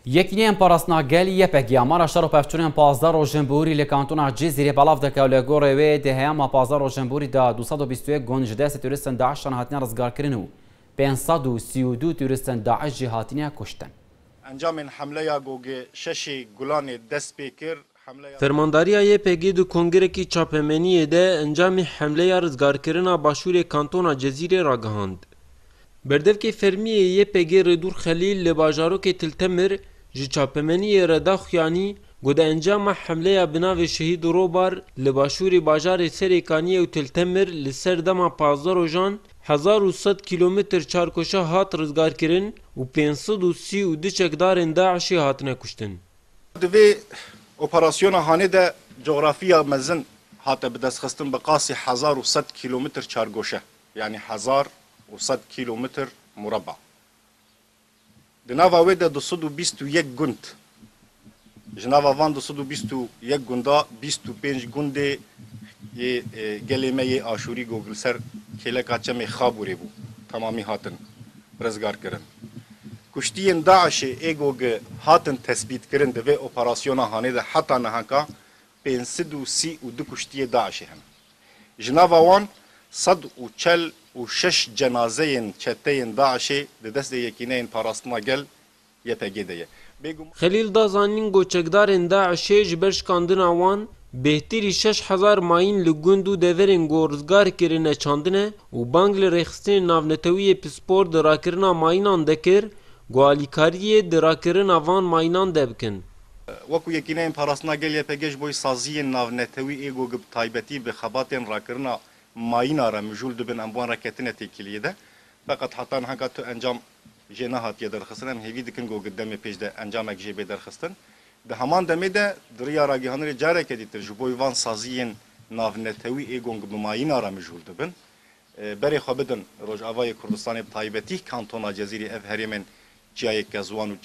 Yekîneyên Parastina Gelî YPG ya mala şer û pevçûnên pazdeh rojên borî li kantona Cizîrê belav dike û li gorê wê di heyama pazdeh rojên borî de du sed û bîst û yek gund ji destê tûrîstin DAIŞ'an hatine rizgarkirin û pênc sed û sî û du tûrîstin DAIŞ jî hatine kuştin. Encamên hemleya Gogê Şeşê Gulanê dest pê kir. Fermandariya YPG di kongirekî çapemeniyê de encamê hemleya rizgarkirina başûrê kantona Cezîrê ragihand. Berdevkê fermî yê YPG Rêdûr Xelîl li bajarokê Til Temir ji çapemeniyê re da xuyanî ku di encama hemleya bi navê Şehîd Robar li başûrê bajarê Serêkaniyê û Til Temir li ser dema pazdeh rojan hezar û sed kîlometr çarkoşa hat rizgarkirin û pênc sed û sî û du çekdarên DAIŞ'ê hatine kuştin. Di vê operasyona hanê de cografiya mezin hate bidestxistin bi qasî hezar û sed kîlometr çargoşe yanî hezar û sed kîlometr mureba. Di nava wê de du sed û bîst û yek gund, ji nava van du sed û bîst û yek gunda bîst û pênc gundê yê gelê me yê Aşûrî Gogilser kêleka çemê Xabûrê bû, temamî hatin rizgarkirin. Kuştiyên DAIŞ'ê ê ku hatin tesbîtkirin di vê operasyona Hanê de heta nihanka pênc sed û sî û du kuştiyê DAIŞ'ê hene. Ji nava wan sed û çel û şeş cenazeyên çeteyên DAIŞ'ê di destê Yekîneyên Parastina Gel, YPG, de ye. Xelîl da zanîn ku çekdarên DAIŞ'ê ji ber şikandina wan, bêhtirî şeş hezar mayîn li gund û deverên ku rizgar kirine çandine û bang li rêxistinên navnetewiyê pispor di rakirina mayînan de kir ku alîkariyê di rakirina van mayînan de bikin. Wek ku Yekîneyên Parastina Gel, YPG, ji bo saziyên navnetewî ê ku bi taybetî bi xebatên rakirina mayîna re mijûl dibin em bi wan re ketine têkiliyê de. Feqet heta niha ka tu encam jê nehatiye derxistin em hêvî dikin ku di demê pêş de encamek jê bê derxistin. Di heman demê de di riya ragihanirê careke dîtir ji bo van saziyên navnetewî ê gong bi mayîna re mijûl dibin. Berê xwe bidin Rojavayê Kurdistanê bi taybetî kantona Cezîrê ev herêmên Çiyayê Kezwan û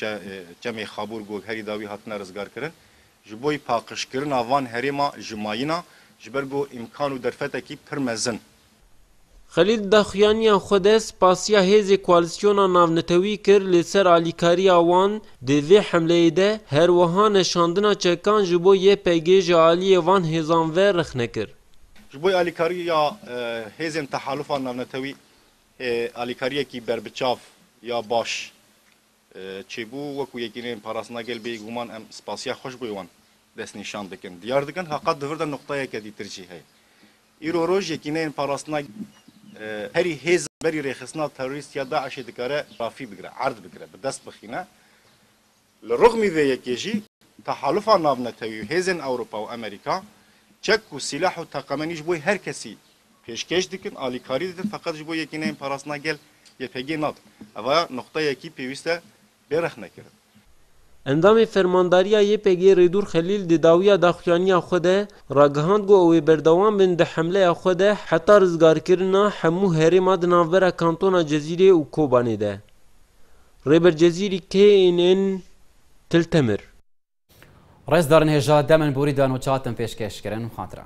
Çemê Xabûr ku herî dawî hatine rizgarkirin ji bo paqijkirina van herêma ji mayîna ji ber ku îmkan û derfetekî pir mezin Xelîl daxuyaniya xwe de spasiya hêzê koalîsyona navnetewî kir li ser alîkariya wan di vê hemleyê de, her wiha ne şandina çekan ji bo YPG ji aliyê van hêzan ve rexne kir. Ji bo alîkariya hêzên tehalufa navnetewî alîkariyekî berbiçav ya baş çêbû, wekû Yekîneyên Parastina Gel bêguman em spasiya xwe ji bo wan destnîşan dikin. Diyar dikin ha qet di vir de nuqteyeke dîtir jî heye. Îro rojekî ne yên parastina herî hêz a berî rêxistina terorîst ya DAIŞ'ê dikare rafî bigire, erd bikire, bi dest bixîne. Li rixmî vê yekê jî tehalifa navnetewî û hêzên Ewropa û Amerîka çek û sîleh û teqemenî ji bo her kesî pêşkêş dikin, alîkarî didin feqet ji bo yekî ne yên parastina gel YPG'ê nadin. Ev aya nuqteyekî pêwîste bêrexne kirin. Endamê Fermandariya YPG'ê Rêdûr Xelîl di dawiya daxuyaniya xwe de ragihand ku ew ê berdewam bin di hemleya xwe de heta rizgarkirina hemû herêma di navbera kantona Cezîrê û Kobanê de. Rêber Cezîrî KNN, Til Temir. Rêzdarên hêja dem in borî dan û çatin pêşkêş kirin, xatira.